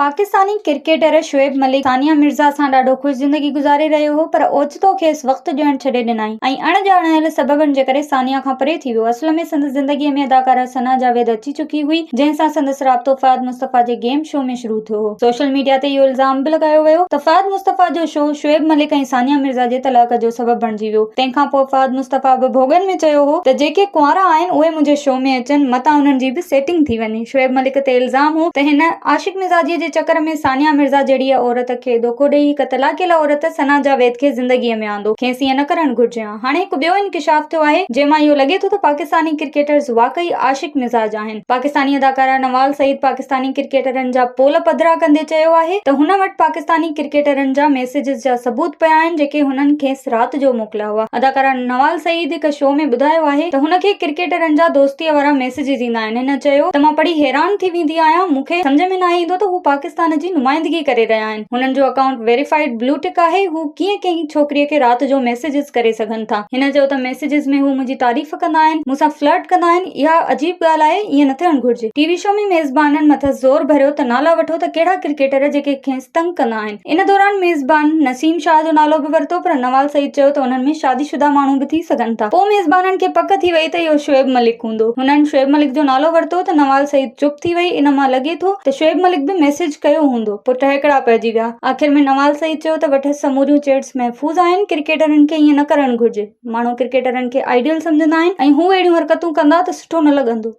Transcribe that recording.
Pakistani cricketer Shoaib Malik Sania Mirza سان ڏاڍو خوش زندگي گذاري رهيو هو پر اوچتو کيس وقت ڏيڻ ڇڏي ڏنائين ۽ اڻ ڄاڻايل سببن جي ڪري ثانيه کان پري ٿي ويو اصل ۾ سندس زندگي ۾ اداڪاره ثنا جاويد اچي چڪي هئي جنهن سان سندس رابطو فهد مصطفيٰ جي گيم شو ۾ شروع ٿيو هو سوشل ميڊيا تي اهو الزام به لڳايو ويو ته فهد مصطفيٰ جو شو شعيب ملڪ ۽ ثانيه مرزا جي طلاق جو سبب بڻجي ويو تنهن کان پوء فهد مصطفيٰ به ڀوڳن ۾ چيو هو ته جيڪي ڪنوارا آهن اهي منهنجي شو ۾ اچن متان انهن جي به سيٽنگ ٿي وڃي. شعيب ملڪ تي الزام هو ته هن عاشق مزاجيء جي چڪر ۾ ثانيه مرزا جهڙيء عورت کي ڌوڪو ڏيئي هڪ طلاقيل عورت ثنا جاويد کي زندگيء ۾ آندو، کيس ائين نه ڪرڻ گهرجي ها. هاڻي هڪ ٻيو انڪشاف ٿيو آهي، جنهن مان اهو لڳي ٿو ته پاڪستاني ڪرڪيٽرز واقعي عاشق مزاج آهن. پاڪستاني اداڪاره نوال سعيد پاڪستاني ڪرڪيٽرن جا پول پڌرا ڪندي چيو آهي ته هن وٽ پاڪستاني ڪرڪيٽرن جا ميسيجز جا ثبوت پيا آهن جيڪي هنن کيس رات جو موڪليا هئا. اداڪاره نوال سعيد هڪ شو ۾ ٻڌايو آهي ته هن کي ڪرڪيٽرن جا دوستيء وارا ڏسجي ٿيندا آهن. هن چيو ته مان پڙهي حيران ٿي ويندي آهيان، مون کي سمجهه ۾ ناهي ايندو ته هو پاڪستان جي نمائندگي ڪري رهيا آهن، هنن جو اڪائونٽ ويريفائيڊ بلو ٽڪ آهي، هو ڪيئن ڪنهن ڇوڪريء کي رات جو ميسيجز ڪري سگهن ٿا. هن چيو ته ميسيجز ۾ هو منهنجي تعريف ڪندا آهن، مون سان فلرٽ ڪندا آهن، اها عجيب ڳالهه آهي، ائين نه ٿيڻ گهرجي. ٽي وي شو ۾ ميزبانن مٿس زور ڀريو ته نالا وٺو ته ڪهڙا ڪرڪيٽر جيڪي کيس تنگ ڪندا آهن. ان دوران ميزبان نسيم شاهه جو نالو به ورتو پر نوال سعيد چيو ته انهن ۾ شادي شده ماڻهو به ٿي سگهن ٿا. پوء ميزبانن کي پڪ ٿي وئي ته اهو شعيب ملڪ هوندو. هنن شعيب ملڪ جو نالو ورتو ته نوال سعيد چپ ٿي وئي ان مان لڳي ٿو ته شعيب ملڪ به ميسيج ڪيو هوندو. پوء ٽهڪڙا پئجي ويا. آخر ۾ نوال سعيد چيو ته وٺس سموريون چيٽس محفوظ آهن. ڪرڪيٽرن کي ائين نه ڪرڻ گهرجي. ماڻهو ڪرڪيٽرن کي آئيڊيل سمجهندا آهن ۽ هو اهڙيون حرڪتون ڪندا ته سٺو نه لڳندو.